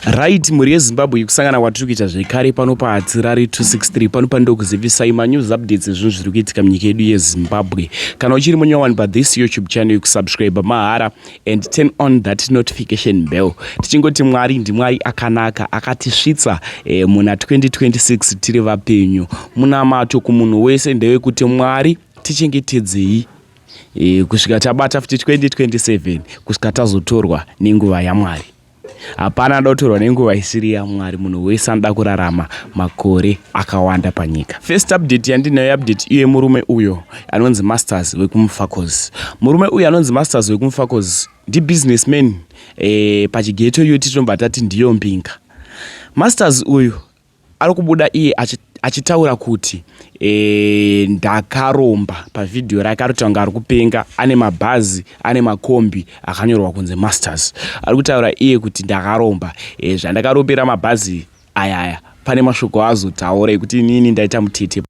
right mhuri yezimbabwe kusangana kwatiri kuita zvekare pano pahatsirari 263 pano panoda kuzivisai manews updates ezvinhu zviri kuitika munyika yedu yezimbabwe kana uchiri munyowani pathis youtube channel yekusubscribe mahara and turn on that notification bell tichingoti mwari ndimwari akanaka akatisvitsa eh, muna 2026 tiri vapenyu munamato kumunhu wese ndewekuti mwari tichengetedzei e, kusvika tabata futi 2027 kusvika tazotorwa nenguva yamwari hapana anoda kutorwa nenguva isiri yamwari munhu wese anoda kurarama makore akawanda panyika first update yandinayo update iye murume uyo anonzi masters wekumufacos murume uyo anonzi masters wekumufacos ndibusinessman e, pachigeto iyo titinobva tati ndiyo mbinga masters uyu Ari kubuda iye achitaura kuti e, ndakaromba pavhidhiyo rake ari kutanga ari kupenga ane mabhazi ane makombi akanyorwa kunzi masters ari kutaura iye kuti ndakaromba e, zvandakaropera mabhazi ayaya pane mashoko azotaura ekuti inini ndaita mutete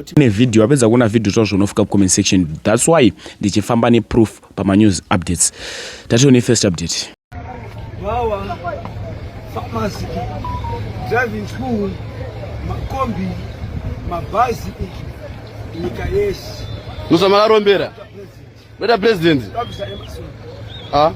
tine video wapedza kuona video zvazvo unofika kucomment section thats why ndichifamba neproof pamanews updates tatione first update Wawa, pharmacy, driving school, makombi, mabhazi, nyika yese. Musamakarombera. Meta president. Ah.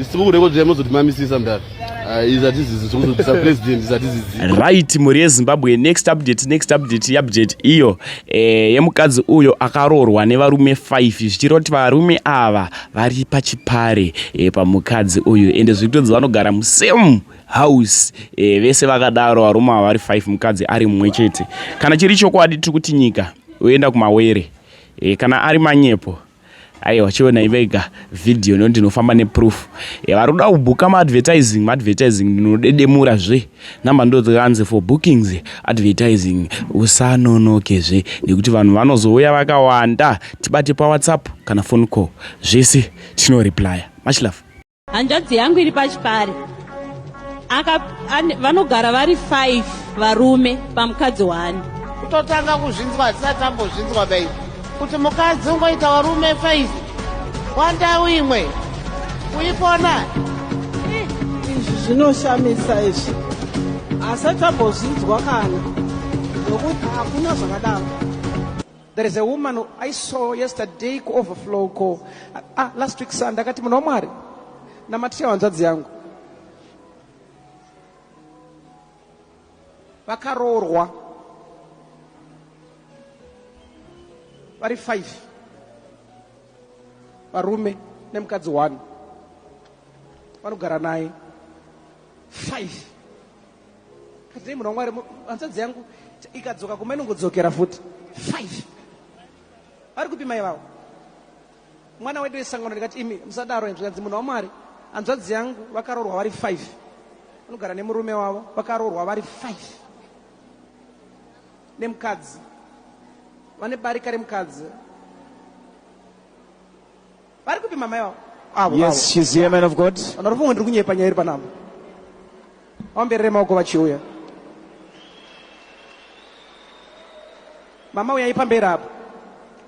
Isikukude kodwa yamozodimamisisa mdara. Ah, izatizizi zokuzodisa president izatizizi. Right mhuri yeZimbabwe next update next update yabjet iyo eh yemukadzi uyo akaroorwa nevarume 5 zvichiroti varume ava vari pachipare eh, pamukadzi uyu ende zvikutonzi vanogara musame house eh, vese vakadaro varume ava vari 5 mukadzi ari mumwe chete kana chiri chokwadi tiri kuti nyika oenda kumawere e, kana ari manyepo aiwa chionai vega vhidhiyo no ndinofamba neproof e, vari kuda kubhuka maadvertising maadvertising ndinodedemura zve number ndodzikanzi for bookings advertising usanonoke zve nekuti vanhu vanozouya vakawanda tibate pawhatsapp kana phone call zvese tinoreplya much love hanzvadzi yangu iri pachipare vanogara vari five varume pamukadzi wani kutotanga kuzvinzwa hatisati tambozvinzwa bai kuti mukadzi ungoita varume five wandau imwe kuipona izvi zvinoshamisa izvi asati ambozvinzwa kana nokuti hakuna zvakadaro There is a woman who I saw yesterday ku overflow ko ah, last week Sunday akati munhu waMwari namatira hanzvadzi yangu vakaroorwa vari five varume nemukadzi one vanogara naye five Kadzei munhu wamwari hanzvadzi yangu ikadzoka kumba inongodzokera futi five vari kupi mai vavo mwana wedu wesangano ndikati imi musadaro hanzvadzi munhu wamwari hanzvadzi yangu vakaroorwa vari five vanogara nemurume wavo vakaroorwa vari five nemukadzi vane barika remukadzi Vari kupi mama yavo? Avo, yes, avo. she's here, man of God. Vanhu vari ndiri kunyepa nyaya iri panapa. Vamberere maoko vachiuya. Mama uyai pamberi apo.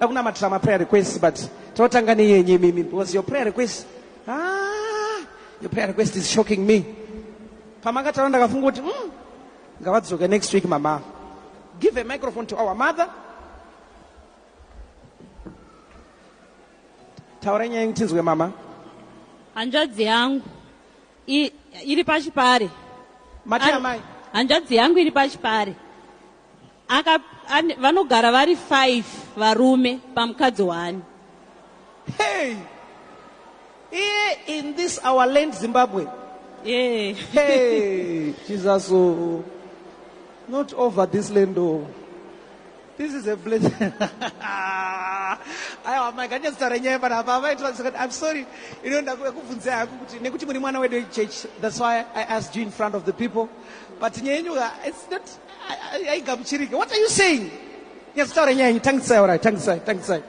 Dakunamatira ma prayer requests but totanga neyenyu imimi because your prayer request ah, your prayer request is shocking me. Pamakataura ndakafunga kuti mm, ngavadzoke next week mama. Give a microphone to our mother. Taurai nyaya yenyu tinzwe mama. Hanzvadzi yangu i, iri pachipare. Mati amai. Hanzvadzi yangu iri pachipare. Aka an, vanogara vari 5 varume pamukadzi wani. Hey. Here in this our land Zimbabwe. Yeah. hey, Jesus. Oh. Not over this land. Oh. This is a blessing. Aiwa mai nganyatso taura nyaya panapa avaitira kuti I'm sorry. You know ndakubvunza haku kuti nekuti muri mwana wedu church. That's why I asked you in front of the people. But nyaya yenyu uh, it's not haigamuchirike. What are you saying? Nyatso taura nyaya yenyu tangisai ora tangisai tangisai.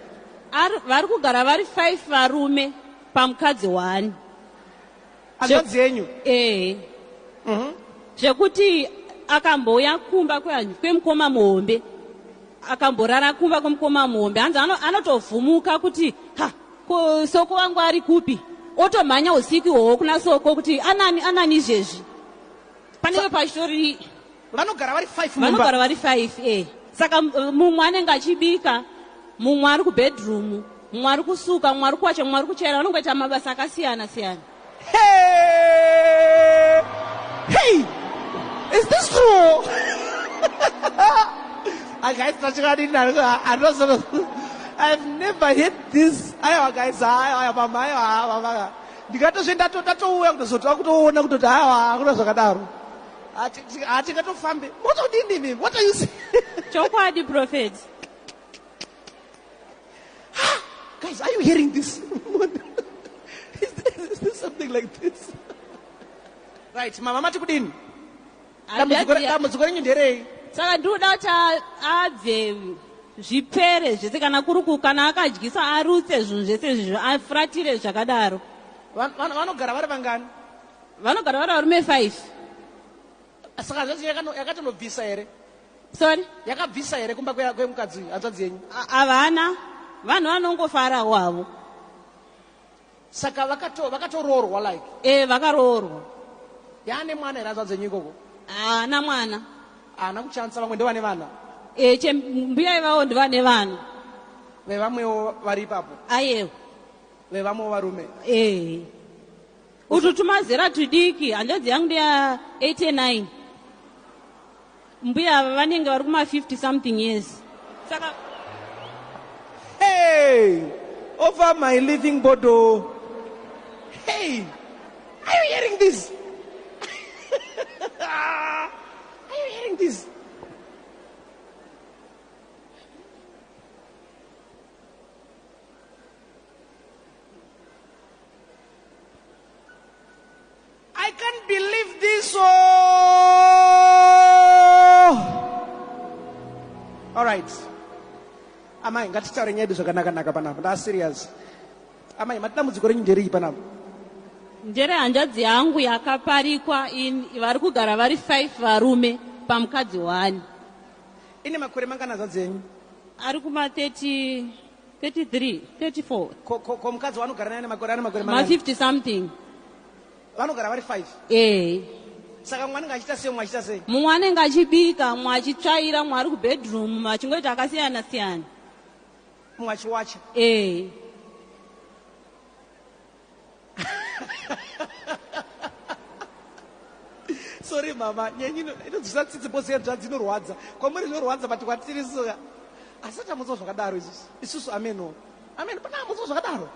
Vari kugara vari 5 varume pamukadzi one. hanzvadzi yenyu ee mhm. zvekuti akambouya kumba kwemukoma muhombe akamborara kumba kwemukoma muhombe hanzi anotovhumuka kuti ha ko soko wangu ari kupi otomhanya usiku ihwohwo kuna soko kuti anani anani izvezvi panenge pachitori vanogara vari five mumba vanogara vari five eh saka uh, mumwe anenge achibika mumwe ari kubedroom mumwe ari kusuka mumwe ari kuwacha mumwe ari kuchaira vanongoita mabasa akasiyana siyana hey! hey! is this true ah, guys i've never heard this aiwa guys aiwa mama aiwa mama ndikatozve ndatouya kutozoti akutoona kutoti aiwa akuna zvakadaro hatingatofambe motodinini what are you saying chokwadi prophet guys are you hearing this is, this, is this something like this right mama mati kudini dambudziko renyu nderei saka ndinoda kuti abve zvipere zvese kana kuri kana akadyisa arutse zvinhu zvese zvizvo afuratire zvakadaro vanogara vari vangani vanogara vari varume five saka hanzvadzi yakatonobvisa here sorry yakabvisa here kumba kwemukadzi uyu hanzvadzi yenyu havana vanhu vanongofarawo havo saka vakatoroorwa like e vakaroorwa yaane mwana here hanzvadzi yenyu ikoko haana mwana haana kuchanisa vamwe ndovane vana e che mbuya ivavo ndivane vana vevamwewo vari ipapo ayewo vevamwewo varume ee Utu tumazera tudiki hanzvadzi yangu ndeya 89 mbuya ava vanenge vari kuma 50 something years saka hey over my living bodo hey are you hearing this are you hearing this I can't believe this. Oh. All right. Amai, ngatitaure nyaya yedu zvakanakanaka panapa. Ndaa serious. Amai, madambudziko renyu nderei panapa? Ndere hanzvadzi yangu yakaparikwa in vari kugara vari five varume pamukadzi one. Ine makore mangana hanzvadzi yenyu? Ari kuma 30 33 34 ko ko ko mukadzi wanogara naye nemakore ane makore ma mangani 50 something vanogara vari five eh saka mumwe anenge achiita sei mumwe achiita sei mumwe anenge achibika mumwe achitsvaira mumwe ari kubedroom mumwe achingoita akasiyana siyana mumwe achiwacha eh sorry mama nyenyi inodzvisa tsitsi bose yenzvadzi inorwadza kwamuri zvinorwadza but kwatiri soka asi atamutsa zvakadaro isusu isusu ameno ameno pana amutsa zvakadaro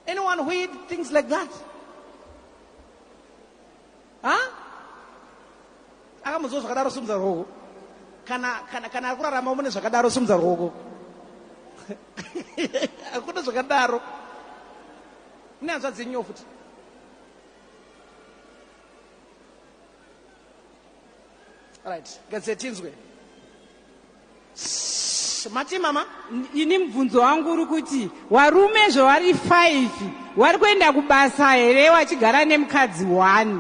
anyone who eat things like that ha akamuziwa zvakadaro simudza rwoko kana kana kana ari kurarama mune zvakadaro simudza rwoko hakuna zvakadaro mune hanzvadzi yenyu futi right gadze tinzwe Mati mama? Ini mubvunzo wangu uri kuti warume zvavari five wari kuenda kubasa here wachigara nemukadzi one?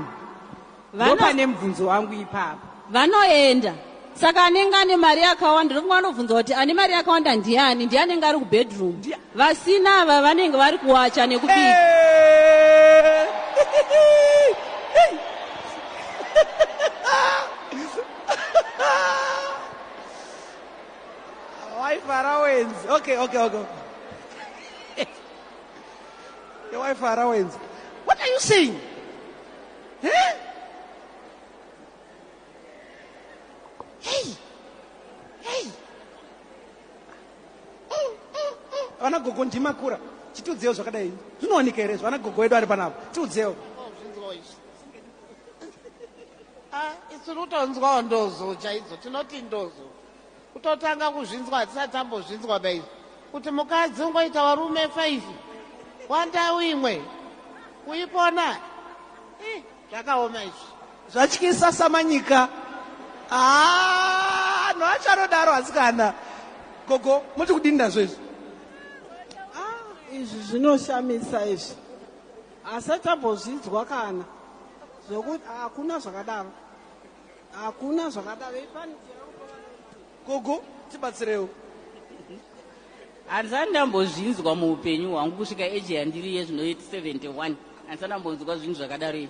Ndopane mubvunzo wangu ipapa. Vanoenda saka anenge ane mari yakawanda ndofunga vanobvunza kuti ane mari yakawanda ndiani ndiye anenge ari kubedroom vasina ava vanenge vari kuwacha nekubika waifara wenzi okay okay okay waifara wenzi what are you saying huh? hey hey vana gogo ndimakura chitiudzewo zvakadai zvinooneka here zvana gogo wedu ari panapa tiudzewo Ah, tiri kutonzwawo ndozo chaidzo tinoti ndozo kutotanga kuzvinzwa hatisati tambozvinzwa baizvo kuti mukadzi ungoita varume five wandau imwe kuipona eh, zvakaoma izvi zvatyisa samanyika ah, no achanodaro asikana gogo moti kudini nazvo izvi ah, izvi zvinoshamisa izvi Hasati ambozvidzwa kana zvokuti hakuna zvakadaro hakuna zvakadaro gogo tibatsirewo handisati ndambozvinzwa muupenyu hwangu kusvika eji yandiri yezvino 71 handisati ndambonzwa zvinhu zvakadaro iyi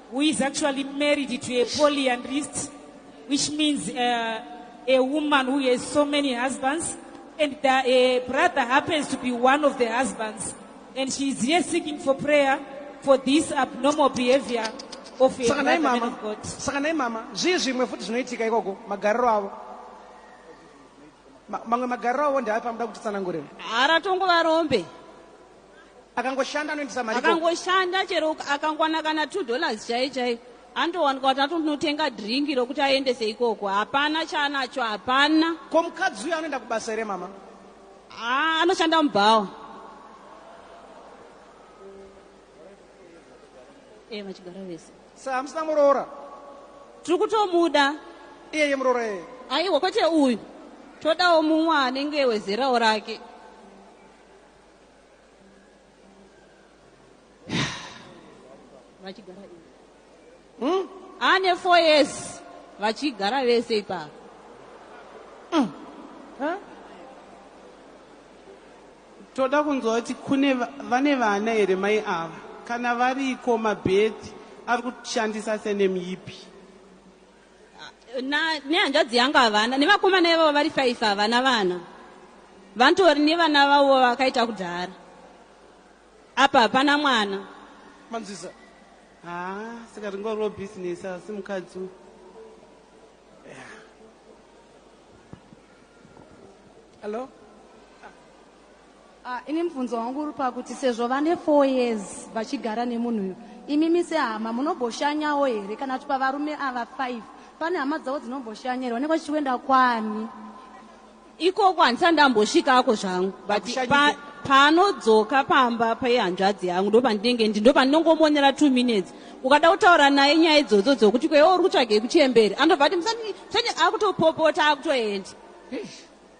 who is actually married to a polyandrist, which means uh, a woman who has so many husbands, and the uh, brother happens to be one of the husbands. And she is here seeking for prayer for this abnormal behavior of a brother man of God. Saka nai mama, zvii zvimwe futi zvinoitika ikoko magariro avo. Mamwe magariro avo ndaapi amuda kuti tsanangure. Haratongova rombe. akangoshanda anoendesa mari akangoshanda chero akangowana kana two dollars chai chai andowanika kuti atonotenga dringi rokuti aendese ikoko hapana chaanacho hapana ko mukadzi uyo anoenda kubasa here mama haa anoshanda mubhawa e eh, vachigara vese sa hamusina muroora tiri kutomuda iyeye muroora eye aiwa kwete uyu todawo mumwe anenge wezerawo rake vachigara hmm? ane four years vachigara vese ipapo hmm. toda kunzwa kuti kune vane vana here mai ava kana variko mabhethi ari kushandisa senemyipi na nehanzvadzi yangu havana nevakomana ivavo vari five havana vana vanotori nevana vavo vakaita kudhara apa hapana mwana manzwisa haa saka ringoriwo bhizinesi asi mukadzi uyu hallo yeah. Ah, ini mubvunzo wangu uri pakuti sezvo vane four years vachigara nemunhu uyu imimi sehama munomboshanyawo here kana kuti pavarume ava five pane hama dzavo dzinomboshanya here vanenge vachichiwenda kwani ikoko handisati ndambosvikako zvangu but pa, paanodzoka pamba pehanzvadzi yangu ndopandinenge ndi ndopandinongomonera two minutes ukada kutaura naye nyaya idzodzo dzokuti kwewo uri kutsvagei kuchemberi anobva ati musati musati akutopopota akutoenda